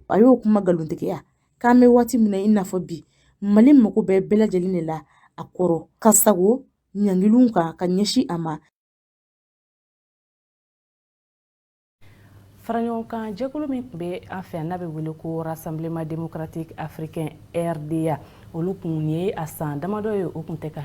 a y'o kuma nkalontigiya k'an bɛ waati min na i n'a fɔ bi mali mago bɛ bɛɛ lajɛlen de la a kɔrɔ ka sago ɲangilinw kan ka ɲɛsin a ma faraɲɔgɔnkan jɛkulu min tun bɛ an fɛ n'a bɛ wele ko rassemblement démocratique africain rda olu kun ye a san damadɔ ye o kun tɛ ka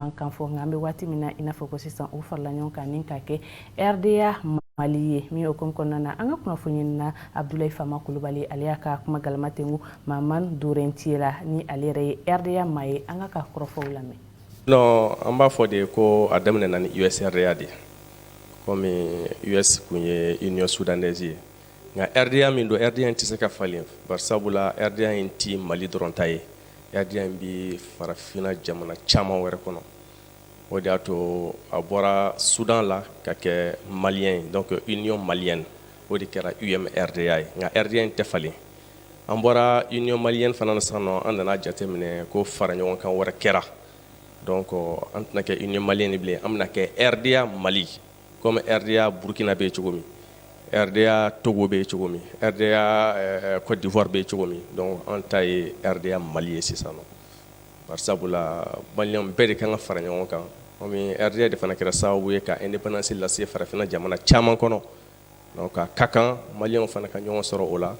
an kan fɔ nka an bɛ waati min na i n'a fɔ ko sisan u farala ɲɔgɔn kan ni ka kɛ rda mali ye min o kom kɔnɔna na an ka kunnafoniɲinina abdulayi fama kulubali ale y'a ka kuma galama tɛngu maman dorentiye la ni ale yɛrɛ ye rda maa ye an k'a ka kɔrɔfɔw lamɛn non an b'a fɔ de ko a daminɛna ni usrda de ye komi us kun ye union soudanaise ye nka rda min don rda in tɛ se ka falen bari sabula rda in tɛ mali dɔrɔn ta ye rda in bɛ farafinna jamana caman wɛrɛ kɔnɔ o de y'a to a bɔra sudan la ka kɛ malien donc union malienne o de kɛra umrda ye nka rda in tɛ falen an bɔra union malienne fana na sisan nɔ an nana jateminɛ ko faraɲɔgɔnkan wɛrɛ kɛra donc an tɛna kɛ union malienne bilen an bɛna kɛ rda mali comme RDA Burkina bɛ cogo min RDA Togo bɛ cogo min RDA ɛɛ Côte d'Ivoire bɛ cogo min donc an ta ye RDA Mali ye sisan nɔ bari sabula malien bɛɛ de ka kan ka fara ɲɔgɔn kan comme RDA de fana kɛra sababu ye ka indépendance lase farafinna jamana caman kɔnɔ donc a ka kan malien fana ka ɲɔgɔn sɔrɔ o la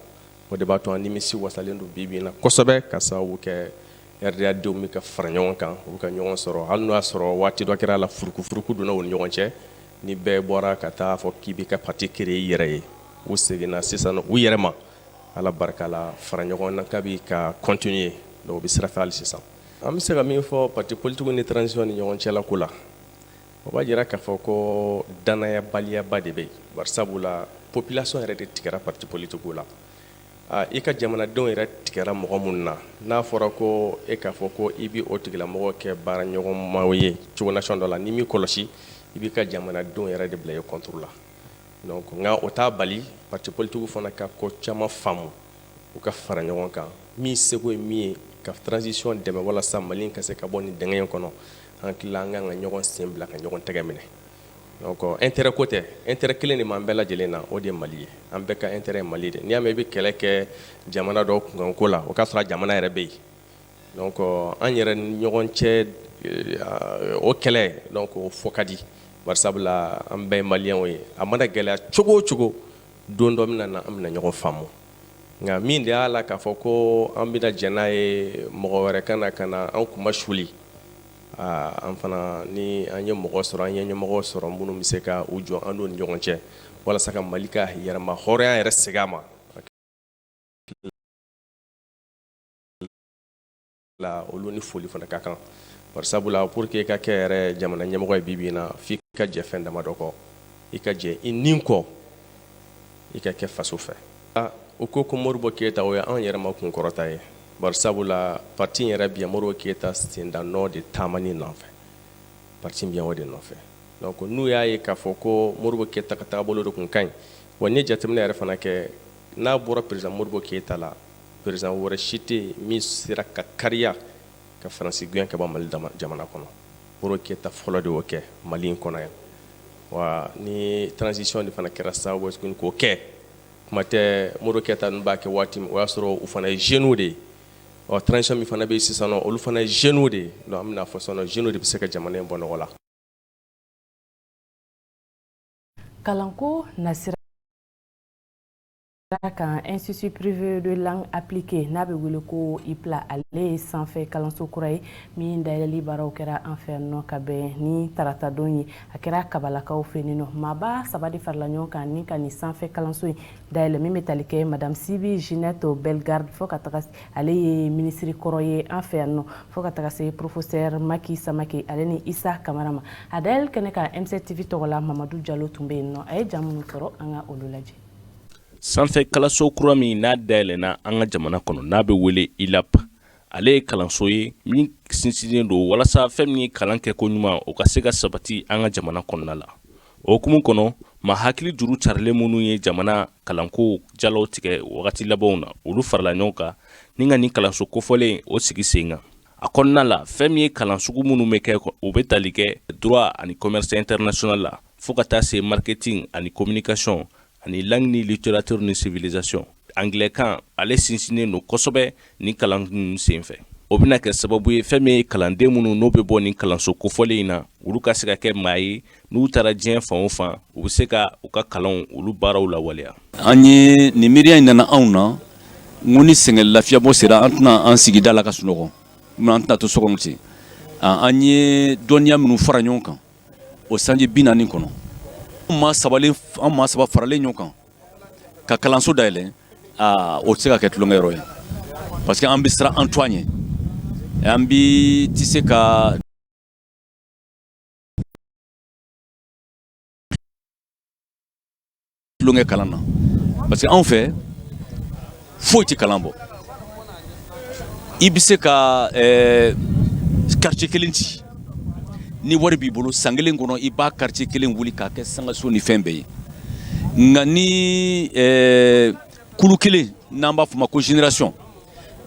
o de b'a to an nimisiwasalen don bi-bi in na kosɛbɛ ka sababu kɛ RDA denw bɛ ka fara ɲɔgɔn kan u bɛ ka ɲɔgɔn sɔrɔ hali n'o y'a sɔrɔ waati dɔ kɛra la furukufuruku donna u ni ɲɔgɔn cɛ ni bɛɛ bɔra ka taa fɔ k'i bɛ ka pati créer i yɛrɛ ye u seginna sisan u yɛrɛ ma ala barika la fara ɲɔgɔn na k'a bɛ ka continuer donc u bɛ sira fɛ hali sisan an bɛ se ka min fɔ pati politigiw ni transition ni ɲɔgɔn cɛla ko la o b'a jira k'a fɔ ko dannayabaliyaba de bɛ yen bari sabula population yɛrɛ de tigɛra pati politigiw la i ka jamanadenw yɛrɛ tigɛra mɔgɔ minnu na n'a fɔra ko e k'a fɔ ko i bɛ o tigilamɔgɔw kɛ baaraɲɔgɔnma ye cogolasɔn dɔ la n'i m'i kɔlɔsi i b'i ka jamanadenw yɛrɛ de bila i contre la donc nka o t'a bali pati politigiw fana ka ko caman faamu u ka fara ɲɔgɔn kan min seko ye min ye ka transition dɛmɛ walasa mali ka se ka bɔ nin dingɛ in kɔnɔ an tila an kan ka ɲɔgɔn sen bila ka ɲɔgɔn tɛgɛ minɛ donc intérêt ko tɛ intérêt kelen de b'an bɛɛ lajɛlen na o de ye mali ye an bɛɛ ka intérêt mali de n'i y'a mɛn i bɛ kɛlɛ kɛ jamana dɔ kunkan ko la o k'a sɔrɔ jamana yɛrɛ bɛ yen donc an yɛrɛ ni ɲɔgɔn cɛ o kɛlɛ donc o fɔ ka di bari sabula an bɛɛ maliyɛnw ye a mana gɛlɛya cogo o cogo don dɔ min na an bɛna ɲɔgɔn faamu nka min de y'a la k'a fɔ ko an bɛna jɛ n'a ye mɔgɔ wɛrɛ ka na ka na an kunmasuli an fana ni an ye mɔgɔ sɔrɔ an ye ɲɛmɔgɔ sɔrɔ minnu bɛ se ka u jɔ an ni ɲɔgɔn cɛ walasa ka mali ka yɛrɛmahɔrɔnya yɛrɛ segin a ma olu ni foli fana ka kan bari sabula pour que i ka kɛ yɛrɛ jamana ɲɛmɔgɔ ye bi bi in na f'i ka jɛ fɛn damadɔ kɔ i ka jɛ i ni kɔ i ka kɛ faso fɛ ah, u ko ko modibo keyita o ye anw yɛrɛ ma kunkɔrɔta ye bari sabula parti yɛrɛ bɛ modibo keyita sendannɔ de taamani nɔfɛ parti bɛ o de nɔfɛ donc n'u y'a ye k'a fɔ ko modibo keyita ka taabolo de kun ka ɲi wa n'i ye jateminɛ yɛrɛ fana kɛ n'a bɔra président modibo keyita la président wɛrɛ si tɛ min sera ka kariya ka faransi gɛn ka bɔ mali jamana kɔnɔ Modibo Keyita fɔlɔ de y'o kɛ Mali in kɔnɔ yan wa ni transition de fana kɛra sababu ye tuguni k'o kɛ kuma tɛ Modibo Keyita ninnu b'a kɛ waati min o y'a sɔrɔ u fana ye jeunes de ye ɔ transition min fana bɛ yen sisan nɔ olu fana ye jeunes de ye donc an bɛna fɔ sisan nɔ jeunes de bɛ se ka jamana in bɔ nɔgɔ la. Kalanko nasira kan institut privé de langue appliquée n'a bɛ wele ko IPLA ale ye sanfɛ kalanso kura ye min dayɛlɛli baaraw kɛra an fɛ yan nɔ ka bɛn ni taratadon ye a kɛra kabalakaw fɛ yen nɔ maaba saba de farala ɲɔgɔn kan ni ka nin sanfɛ kalanso in dayɛlɛ min bɛ tali kɛ madame Sibi Ginette Bellegarde fo ka taga ale ye minisiri kɔrɔ ye an fɛ yan nɔ fo ka taga se professeur Maki Samake ale ni Isa Kamara ma a dayɛlɛli kɛnɛ kan MCTV tɔgɔ la Mamadu Jalo tun bɛ yen nɔ a ye jaa minnu sɔrɔ an ka olu lajɛ. sanfɛ kalanso kura min n'a dayɛlɛna an ka jamana kɔnɔ n'a bɛ wele ILAP ale ye kalanso ye min sinsinnen don walasa fɛn min ye kalan kɛ ko ɲuman o ka se ka sabati an ka jamana kɔnɔna la o hukumu kɔnɔ maa hakili juru carilen minnu ye jamana kalanko jalaw tigɛ wagati labanw na olu farala ɲɔgɔn kan ni ka nin kalanso kofɔlen o sigi sen kan a kɔnɔna la fɛn min ye kalan sugu minnu bɛ kɛ u bɛ tali kɛ droit ani commerce international la fo ka taa se marketing ani communication ani langue ni littérature ni civilisation anglais kan ale sinsinnen don kosɛbɛ nin kalan ninnu senfɛ o bɛna kɛ sababu ye fɛn min ye kalanden minnu n'o bɛ bɔ nin kalanso kofɔlen in na olu ka se ka kɛ maa ye n'u taara diɲɛ fan o fan u bɛ se ka u ka kalanw olu baaraw lawaleya an ye nin miiriya in nana anw na n ko ni sɛgɛn lafiyabɔ sera an tɛna an sigi da la ka sunɔgɔ an tɛna to so kɔnɔ ten an ye dɔnniya minnu fara ɲɔgɔn kan o sanji bi naani kɔnɔ an maa saba an maa saba faralen ɲɔgɔn kan ka kalanso dayɛlɛ aa o tɛ se ka kɛ tulonkɛyɔrɔ ye parce que an bɛ siran an tɔgɔ ɲɛ an bi tɛ se ka tulonkɛ kalan na parce que anw fɛ foyi tɛ kalan bɔ i bɛ se ka eh, quartier kelen ci ni wari b'i bolo san kelen kɔnɔ i b'a quartier kelen wuli k'a kɛ sankanso ni fɛn bɛɛ ye nka ni eh, kulu kelen n'an b'a fɔ ma ko génération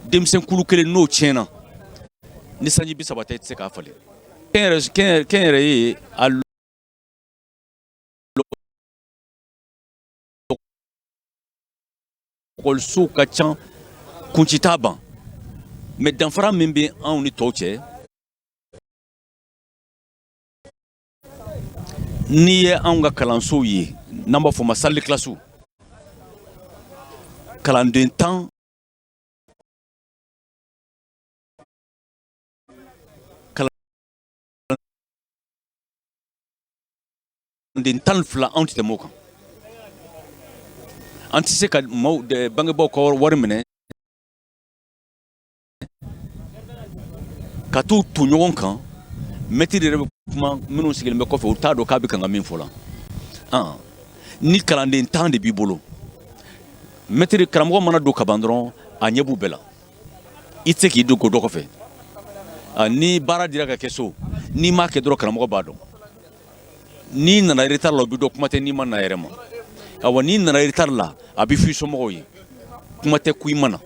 denmisɛn kulu kelen n'o tiɲɛna ni sanji bi saba tɛ i tɛ se k'a falen kɛnyɛrɛye a ekɔlisow ka ca kunci t'a ban mais danfara min bɛ anw ni tɔw cɛ n'i ye anw ka kalansow ye n'an b'a fɔ ma salle de classe kalanden tan den tan ni fila anw tɛ tɛmɛ o kan an tɛ se ka maaw bangebaaw ka wari minɛ ka t'u ton ɲɔgɔn kan mɛtiri yɛrɛ bɛ kuma minnu sigilen bɛ kɔfɛ u t'a dɔn k'a bɛ kan ka min fɔ la ni kalanden tan de b'i bolo mɛtiri karamɔgɔ mana don kaban dɔrɔn a ɲɛ b'u bɛɛ la i tɛ se k'i dogo dɔ kɔfɛ ni baara dira ka kɛ so n'i m'a kɛ dɔrɔn karamɔgɔ b'a dɔn n'i nana retard la o bɛ dɔn kuma tɛ n'i ma na yɛrɛ ma awa n'i nana retard la a bɛ fɔ i somɔgɔw ye kuma tɛ ko i ma na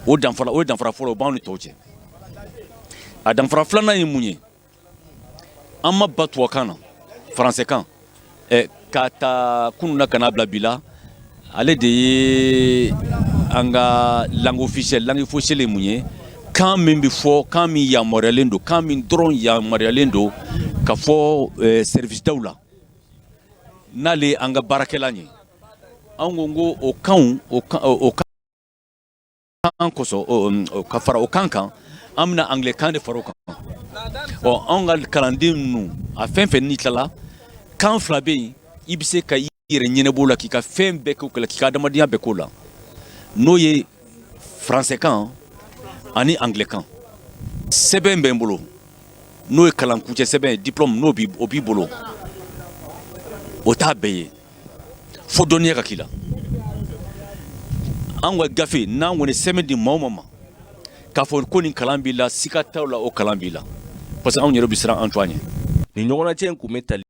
o danfara fɔlɔ o b'anw ni tɔw cɛ a danfara filanan ye mun ye an ma ban tubabukan na faransikan eh, k'a ta kunun na ka n'a bila bi la ale de ye an ka langue officielle langue officielle ye mun ye kan min bɛ fɔ kan min yamaruyalen don kan min dɔrɔn yamaruyalen don ka fɔ eh, service daw la n'ale an ka baarakɛlan ye an ko ko o kanw o kan o kan kan kosɔn ka fara o kan kan an bɛna anglais kan de fara o kan ɔ anw ka kalanden ninnu a fɛn fɛn n'i tilala kan fila bɛ yen i bɛ se ka i yɛrɛ ɲɛnabɔ la k'i ka fɛn bɛɛ k'o k'i ka adamadenya bɛɛ k'o la n'o ye faransɛkan ani anglais kan sɛbɛn bɛ n bolo n'o ye kalankuncɛ sɛbɛn ye diplôme n'o b'i bolo o t'a bɛɛ ye fo dɔnniya ka k'i la an ka gafe n'an kɔni sɛbɛn di maa o maa ma k'a fɔ ko nin kalan b'i la siga t'aw la o kalan b'i la parce que anw yɛrɛ bɛ siran an tɔgɔ ɲɛ nin ɲɔgɔnnajɛ in kun bɛ tali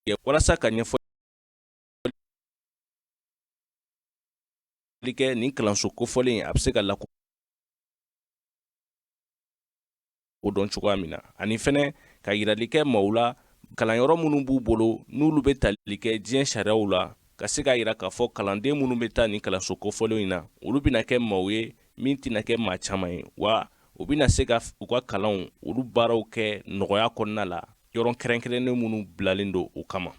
kɛ walasa ka ɲɛfɔli kɛ nin kalanso kofɔlen a bɛ se ka lako o dɔn cogoya min na ani fɛnɛ ka yirali kɛ maaw la kalanyɔrɔ minnu b'u bolo n'olu bɛ tali kɛ diɲɛ sariyaw la ka se k'a yira k'a fɔ kalanden minnu bɛ taa nin kalanso kofɔlen in na olu bɛna kɛ maaw ye min tɛna kɛ maa caman ye wa u bɛna se ka u ka kalanw olu baaraw kɛ nɔgɔya kɔnɔna la yɔrɔ kɛrɛnkɛrɛnnen minnu bilalen don o kama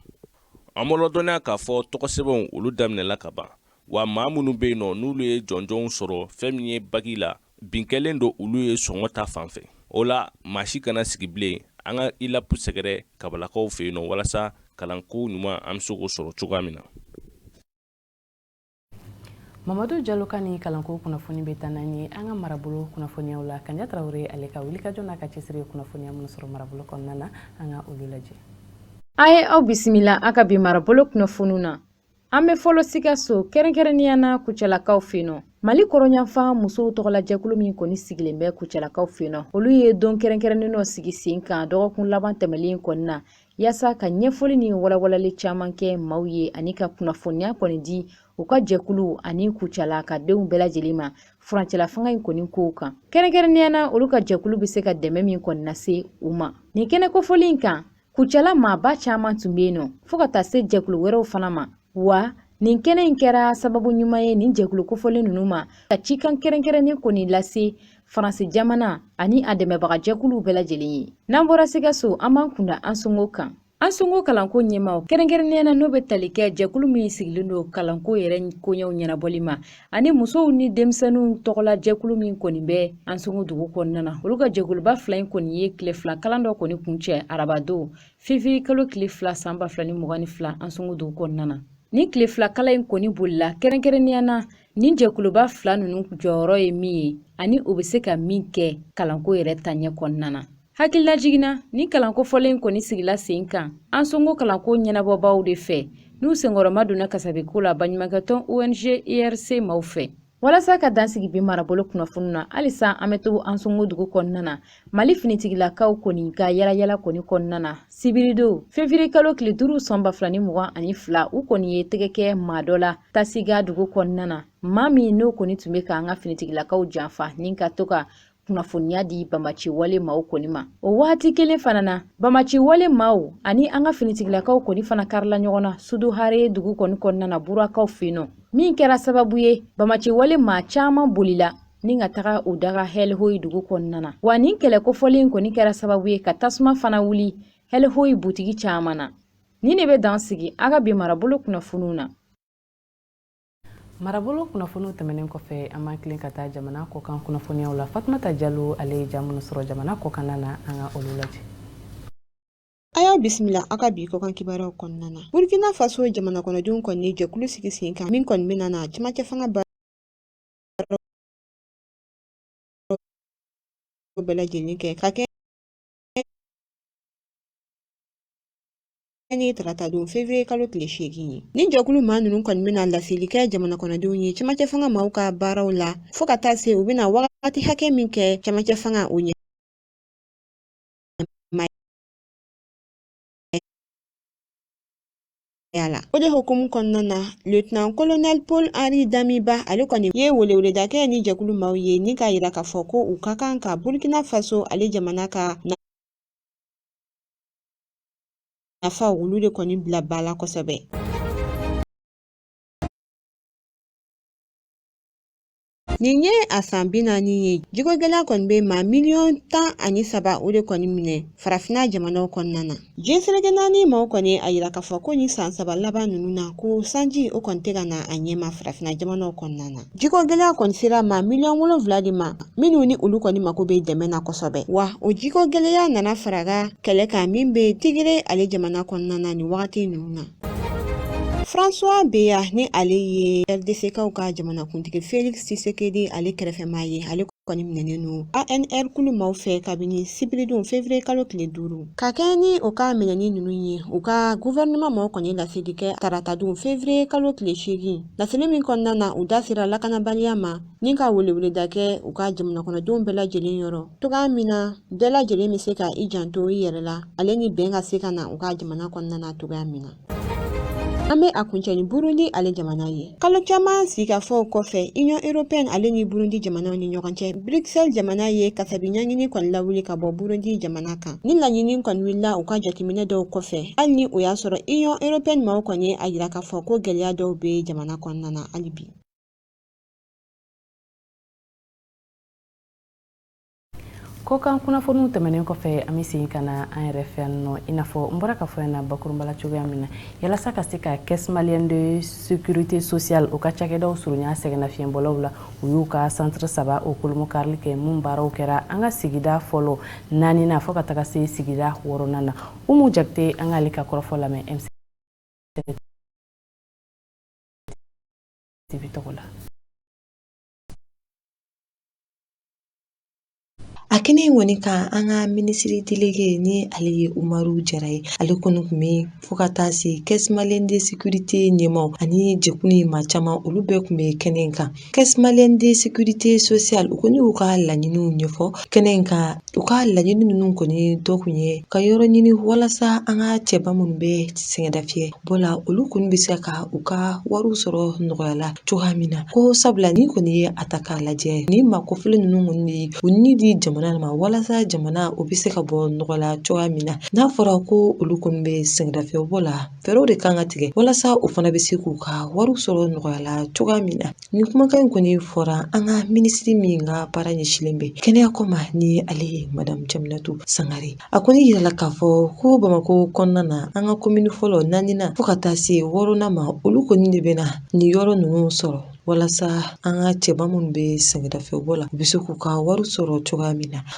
an b'aw ladɔnniya k'a fɔ tɔgɔsɛbɛnw olu daminɛla ka ban wa maa minnu bɛ yen nɔ n'olu ye jɔnjɔnw sɔrɔ fɛn min ye baki la bin kɛlen don olu ye sɔngɔ ta fan fɛ o la maa si kana sigi bilen an ka ILAP sɛgɛrɛ kabalakaw fɛ yen nɔ walasa kalanko ɲuman an bɛ se k'o sɔrɔ cogoya min na mamadu jalo ka nin kalanko kunnafoni bɛ taa n'an ye an ka marabolo kunnafoniyaw la kaɲa tarawele ale ka wulikajɔ n'a ka cɛsiri kunnafoniya minnu sɔrɔ marabolo kɔnɔna na an ka olu lajɛ a ye aw bisimila a ka bi marabolo kunnafoniw na An bɛ fɔlɔ Sikaso kɛrɛnkɛrɛnnenya na Kucalakaw fɛ yen nɔ. Mali kɔrɔnyanfan musow tɔgɔla jɛkulu min kɔni sigilen bɛ Kucalakaw fɛ yen nɔ, olu ye don kɛrɛnkɛrɛnnen dɔ sigi sen kan dɔgɔkun laban tɛmɛlen kɔni na yaasa ka ɲɛfɔli ni walawalali caman kɛ maaw ye ani ka kunnafoniya kɔni di u ka jɛkulu ani Kucala ka denw bɛɛ lajɛlen ma furancɛlafanga in kɔni kow kan. Kɛrɛnkɛrɛnnenya na olu ka jɛkulu bɛ se ka dɛmɛ min kɔni lase u ma. Nin kɛnɛ kofɔlen in kan Kucala maaba caman tun bɛ yen nɔ fo ka taa se jɛkulu wɛrɛw fana ma wa nin kɛnɛ in kɛra sababu ɲuman ye nin jɛkulu kofɔlen ninnu ma ka cikan kɛrɛnkɛrɛnnen kɔni lase faransi jamana ani a dɛmɛbagajɛkuluw bɛɛ lajɛlen ye n'an bɔra sikaso an b'an kunda ansongo kan ansongo kalanko ɲɛmaaw kɛrɛnkɛrɛnnenya na n'o bɛ tali kɛ jɛkulu min sigilen don kalanko yɛrɛ koɲɛw ɲɛnabɔli ma ani musow ni denmisɛnninw tɔgɔla jɛkulu min kɔni bɛ ansongo dugu kɔnɔna na olu ka jɛkuluba fila in kɔni ye tile fila kalan dɔ kɔni kuncɛ arabadon fevrier kalo tile fila san ba fila ni mugan ni fila ansongo dugu kɔnɔna na nin tile fila kalan in kɔni bolila kɛrɛnkɛrɛnnenya na nin jɛkuluba fila ninnu jɔyɔrɔ ye min ye ani u bɛ se ka min kɛ kalanko yɛrɛ taaɲɛ kɔnɔna na Hakililajigin na nin kalan kofɔlen in kɔni sigila sen kan Ansongo kalanko ɲɛnabɔbaaw de fɛ n'u senkɔrɔmadonna kasabiko la baɲumankɛtɔn ONG IRC maaw fɛ. Walasa ka dan sigi bi marabolo kunnafoniw na, halisa an bɛ to Ansongo dugu kɔnɔna na, Mali finitigilakaw kɔni ka yalayala kɔni kɔnɔna na, sibiridon fevrier kalo tile duuru san ba fila ni mugan ani fila, u kɔni ye tɛgɛ kɛ maa dɔ la Tasiga dugu kɔnɔna na, maa min n'o kɔni tun bɛ k'an ka finitigilakaw janfa ni ka to ka kunnafoniya di bamaci wale maaw kɔni ma o waati kelen fana na bamaci wale maaw ani an ka finitigilakaw kɔni fana karila ɲɔgɔn na suduhare dugu kɔni kɔnɔna na burakaw fɛ yen nɔ min kɛra sababu ye bamaci wale maa caman bolila ni ka taga u daga hɛlɛhoyi dugu kɔnɔna na wa nin kɛlɛ kofɔlen kɔni kɛra sababu ye ka tasuma fana wuli hɛlɛhoyi butigi caman na nin de bɛ dan sigi an ka bi marabolo kunnafoniw na marabolo kunnafoniw tɛmɛnen kɔfɛ an b'an tilen ka taa jamana kɔkan kunnafoniyaw la fatumata jalo ale ye ja minnu sɔrɔ jamana kɔkanna na an ka olu lajɛ a y'aw bisimila aw ka bi kɔkan kibaruyaw kɔnɔna na burkina faso jamana kɔnɔdenw kɔni ye jɛkulu sigi sen kan min kɔni bɛna na cɛmancɛ fanga baara bɛɛ lajɛlen kɛ ka kɛ ni tarata don fevrier kalo tile seegin ye ni jɛkulu maa ninnu kɔni bɛna laseli kɛ jamana kɔnɔdenw ye cɛmancɛ fanga maaw ka baaraw la fɔɔ ka taa se u bɛna wagati hakɛ min kɛ cɛmancɛ fanga o ɲɛ la o de hukumu kɔnɔna na lieutenant colonel paul henri damiba ale kɔni ye weleweleda kɛ ni jɛkulu maaw ye ni k'a yira k'a fɔ ko u ka kan ka burkina faso ale jamana ka nafa olu de kɔni bila ba la kosɛbɛ Nin ye a san bi naani ye jiko gɛlɛya kɔni bɛ maa miliyɔn tan ani saba o de kɔni minɛ farafinna jamanaw kɔnɔna na diɲɛ seleke naani maaw kɔni a yira k'a fɔ ko nin san saba laban ninnu na ko sanji o kɔni tɛ ka na a ɲɛma farafinna jamanaw kɔnɔna na jiko gɛlɛya kɔni sera maa miliyɔn wolonwula de ma minnu ni olu kɔni mako bɛ dɛmɛ na kosɛbɛ wa o jiko gɛlɛya nana faraga kɛlɛ kan min bɛ tigire ale jamana kɔnɔna na nin wagati ninnu na François Beya ni ale ye RDC-kaw ka jamanakuntigi Felix Tshisekedi ale kɛrɛfɛmaa ye ale kɔni minɛnen don ANR kulu maaw fɛ kabini sibiridon fevrier kalo tile duuru ka kɛɲɛ ni o ka minɛni ninnu ye u ka gouvernement maaw kɔni laseli kɛ taratadon fevrier kalo tile seegin laseli min kɔnɔna na u da sera lakanabaliya ma ni ka weleweleda kɛ u ka jamanakɔnɔdenw bɛɛ lajɛlen yɔrɔ cogoya min na bɛɛ lajɛlen bɛ se ka i janto i yɛrɛ la ale ni bɛn ka se ka na u ka jamana kɔnɔna na cogoya min na an bɛ a kuncɛ ni burundi ale jamana ye kalo caman sigikafɔw kɔfɛ union européenne ale ni burundi jamanaw ni ɲɔgɔn cɛ bruxelles jamana ye kasabi ɲangini kɔni lawuli ka bɔ burundi jamana kan ni laɲini kɔni wulila u ka jateminɛ dɔw kɔfɛ hali ni o y'a sɔrɔ union européenne maaw kɔni ye a yira k'a fɔ ko gwɛlɛya dɔw be jamana kɔnɔna na hali bi kɔkan kunnafoniw tɛmɛnen kɔfɛ an bɛ segin ka na an yɛrɛ fɛ yan nɔ i n'a fɔ n bɔra k'a fɔ yan na bakurunba la cogoya min na yalasa ka se ka caisse malienne de sécurité sociale o ka cakɛdaw surunya sɛgɛnnafiɲɛbɔlaw la u y'u ka centre saba o kolomo karili kɛ min baaraw kɛra an ka sigida fɔlɔ naaninan fɔɔ ka taga se sigida wɔɔrɔnan na umu jakite an k'ale ka kɔrɔfɔ lamɛn MC TV tɔgɔ la. A kɛnɛ in kɔni kan an ka minisiri delege ni ale ye umaru jara ye ale kɔni kun bɛ fo ka taa se caisse malienne de sécurité ɲɛmaaw ani jɛkulu in maa caman olu bɛɛ kun bɛ kɛnɛ in kan caisse malienne de sécurité sociale u kɔni y'u ka laɲiniw ɲɛfɔ kɛnɛ in kan u ka laɲini ninnu kɔni dɔ kun ye ka yɔrɔ ɲini walasa an ka cɛba minnu bɛ sɛgɛnnafiɲɛ bɔ la olu kɔni bɛ se ka u ka wariw sɔrɔ nɔgɔya la cogoya min na ko sabula n'i kɔni ye a ta k'a lajɛ nin maa kofɔlen ninnu kɔni de u ni di jamana ma walasa jamana o bɛ se ka bɔ nɔgɔ la cogoya min na n'a fɔra ko olu kɔni bɛ sɛgɛnnafiɲɛbɔ la fɛɛrɛw de kan ka tigɛ walasa u fana bɛ se k'u ka wariw sɔrɔ nɔgɔya la cogoya min na Nin kumakan in kɔni fɔra an ka minisiri min ka baara ɲɛsinlen bɛ kɛnɛya ko ma ni ale ye madamu Jaminatu Sangare a kɔni yirala k'a fɔ ko Bamakɔ kɔnɔna na an ka komini fɔlɔ naaninan fo ka taa se wɔɔrɔnan ma olu kɔni de bɛna nin yɔrɔ ninnu sɔrɔ walasa an ka cɛba minnu bɛ sɛgɛnnafiɲɛbɔ la u bɛ se k'u ka wari sɔrɔ cogoya min na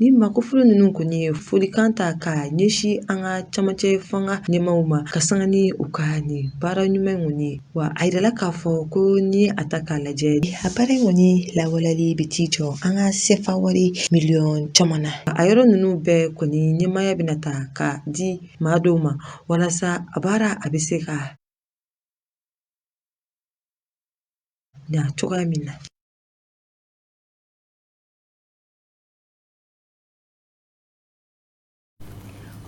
Nin maa kofɔlen ninnu kɔni ye folikan ta ka ɲɛsin an ka camancɛ fanga ɲɛmaaw ma ka sanga ni u ka nin baara ɲuman in kɔni ye wa a yirala k'a fɔ ko n'i y'a ta k'a lajɛ a baara in kɔni lawaleyali bɛ t'i jɔ an ka sefa wari miliyɔn caman na a yɔrɔ ninnu bɛɛ kɔni ɲɛmaaya bɛna ta ka di maa dɔw ma walasa a baara a bɛ se ka ɲa cogoya min na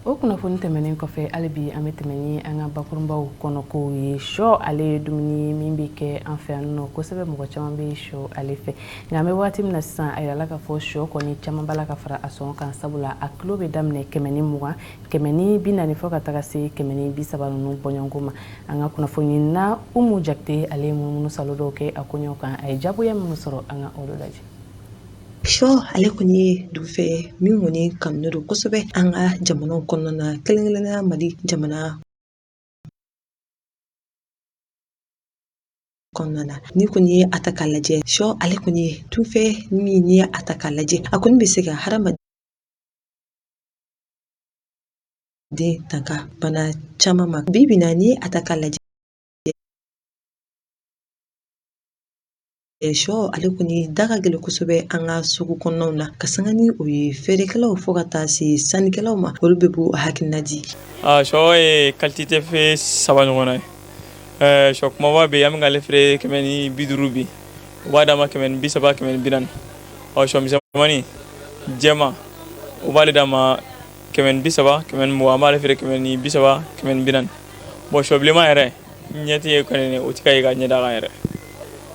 o kunnafoni tɛmɛnen kɔfɛ hali bi an bɛ tɛmɛ ni an ka bakurunbaw kɔnɔ kow ye shɔ ale ye dumuni ye min bɛ kɛ an fɛ yan nɔ kosɛbɛ mɔgɔ caman bɛ shɔ ale fɛ nka an bɛ waati min na sisan a yirala k'a fɔ shɔ kɔni caman b'a la ka fara a sɔngɔ kan sabula a kilo bɛ daminɛ kɛmɛ ni mugan kɛmɛ ni bi naani fɔ ka taga se kɛmɛ ni bi saba ninnu bɔɲɔgɔnko ma an ka kunnafoni na umu jakite ale ye munumunusaalo dɔw kɛ a koɲɛw kan a ye jagoya minnu sɔrɔ an ka olu lajɛ shɔ ale kɔni ye dunfɛn min kɔni kanunen don kosɛbɛ an ka jamanaw kɔnɔna na kɛrɛnkɛrɛnnen mali jamana kɔnɔna na n'i kɔni ye a ta k'a lajɛ shɔ ale kɔni ye dunfɛn min n'i y'a ta k'a lajɛ a kɔni bɛ se ka hadamaden tanga bana caman ma bi bi in na n'i y'a ta k'a lajɛ sɔ ale kɔni da ka gɛlɛn kosɛbɛ an ka sugu kɔnɔnaw na ka sanga ni o ye feerekɛlaw fo ka taa se sannikɛlaw ma olu bɛɛ b'u hakilina di sɔ ye qualité fɛn saba ɲɔgɔnna ye sɔ kumaba bɛ yen an bɛ k'ale feere kɛmɛ ni bi duuru bi u b'a d'a ma kɛmɛ ni bi saba kɛmɛ ni bi naani shɔ misɛnmani jɛman u b'ale d'a ma kɛmɛ ni bi saba kɛmɛ ni mugan an b'ale feere kɛmɛ ni bi saba kɛmɛ ni bi naani bɔn sɔ bilenman yɛrɛ ɲɛ ti ye kɔni o ti ka ye ka ɲɛ d'a kan yɛrɛ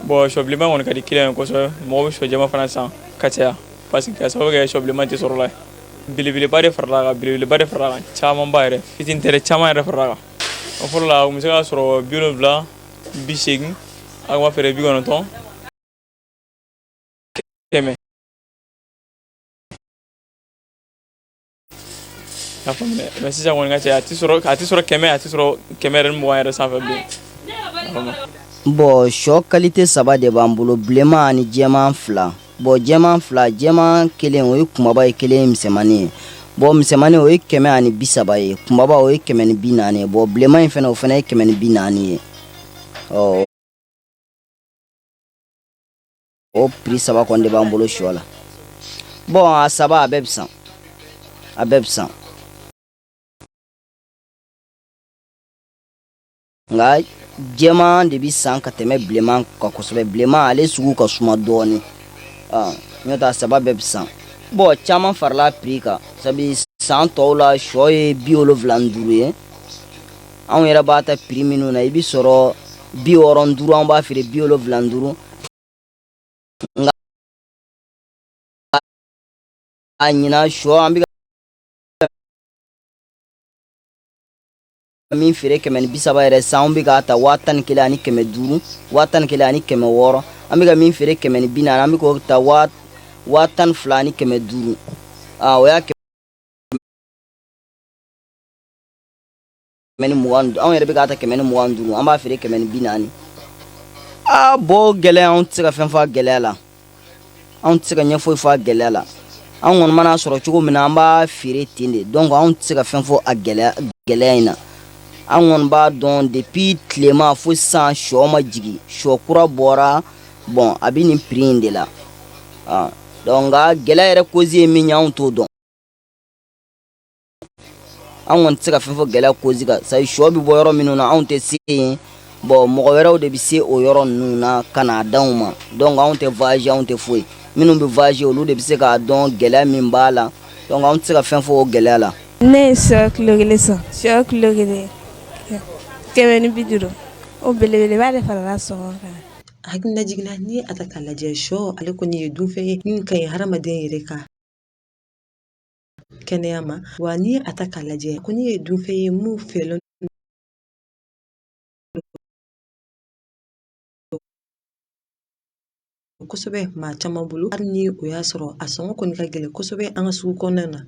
bɔn sɔ bilenman kɔni ka di kiliyan ye kosɛbɛ mɔgɔ bɛ sɔ jɛman fana san ka caya parce que k'a sababu kɛ sɔ bilenman tɛ sɔrɔ la ye belebeleba de farala kan belebeleba de farala kan camanba yɛrɛ fitini tɛ caman yɛrɛ farala kan o fɔlɔ la u bɛ se k'a sɔrɔ bi wolonwula bi seegin an b'a feere bi kɔnɔntɔn kɛmɛ A faamuya mais sisan kɔni ka caya a tɛ sɔrɔ a tɛ sɔrɔ kɛmɛ a tɛ sɔrɔ kɛmɛ ni mugan yɛrɛ sanfɛ bilen bɔn shɔ qualité saba de b'an bolo bilenma ani jɛman fila bɔn jɛman fila jɛman kelen o ye kunbaba ye kelen ye misɛnmani ye bɔn misɛnmani o ye kɛmɛ ani bi saba ye kunbaba o ye kɛmɛ ni bi naani ye bɔn bilenma in fana o fana ye kɛmɛ ni bi naani ye ɔ o prix saba kɔni de b'an bolo sɔ la bon a saba a bɛɛ bɛ san a bɛɛ bɛ san nka jɛman de bɛ san ka tɛmɛ bilenman kan kosɛbɛ bilenman ale sugu ka suma dɔɔnin n'o tɛ a saba bɛɛ bɛ san bɔn caman farala prix kan sabu san tɔw la sɔ ye bi wolonwula ni duuru ye anw yɛrɛ b'a ta prix minnu na i bɛ sɔrɔ bi wɔɔrɔ ni duuru an b'a feere bi wolonwula ni duuru a ɲinan shɔ an bɛ min feere kɛmɛ ni bi saba yɛrɛ san an bɛ k'a ta waa tan ni kelen ani kɛmɛ duuru waa tan ni kelen ani kɛmɛ wɔɔrɔ an bɛ ka min feere kɛmɛ ni bi naani an bɛ k'o ta waa waa tan ni fila ani kɛmɛ duuru o y'a kɛmɛ ni mugan anw yɛrɛ bɛ k'a ta kɛmɛ ni mugan ni duuru an b'a feere kɛmɛ ni bi naani aa bɔn gɛlɛya anw tɛ se ka fɛn fɔ a gɛlɛya la anw tɛ se ka ɲɛ foyi fɔ a gɛlɛya la an kɔni mana sɔrɔ cogo min na an b'a feere ten de donc anw tɛ se ka fɛn fɔ a gɛlɛya gɛlɛya in na an kɔni b'a dɔn depuis tilema fo sisan shɔ ma jigin shɔ kura bɔra bɔn a bɛ nin prix in de la donc nka gɛlɛya yɛrɛ cause ye min ye anw t'o dɔn an kɔni tɛ se ka fɛn fɔ gɛlɛya cause kan sabu shɔ bɛ bɔ yɔrɔ minnu na anw tɛ se yen bon mɔgɔ wɛrɛw de bɛ se o yɔrɔ ninnu na ka n'a d'anw ma donc anw tɛ voyager anw tɛ foyi minnu bɛ voyager olu de bɛ se k'a dɔn gɛlɛya min b'a la donc anw tɛ se ka fɛn fɔ o gɛlɛya la ne ye shɔ kilo kelen san shɔ kilo kelen kɛmɛ ni bi duuru o belebeleba de farala sɔngɔ kan hakilijigin na n'i ye a ta k'a lajɛ shɔ ale kɔni ye dunfɛn ye min ka ɲi hadamaden yɛrɛ ka kɛnɛya ma wa n'i ye a ta k'a lajɛ a kɔni ye dunfɛn ye min fɛlen kosɛbɛ maa caman bolo hali ni o y'a sɔrɔ a sɔngɔ kɔni ka gɛlɛn kosɛbɛ an ka sugu kɔnɔna na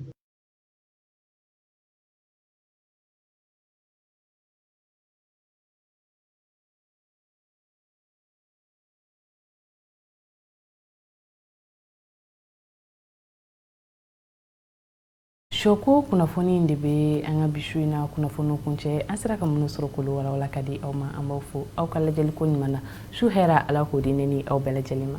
Shɔko kunnafoni in de bɛ an ka bi su in na kunnafoni kuncɛ an sera ka minnu sɔrɔ k'olu walawala ka di aw ma an b'aw fo aw ka lajɛli ko ɲuman na su hɛrɛ ala k'o di ne ni aw bɛɛ lajɛlen ma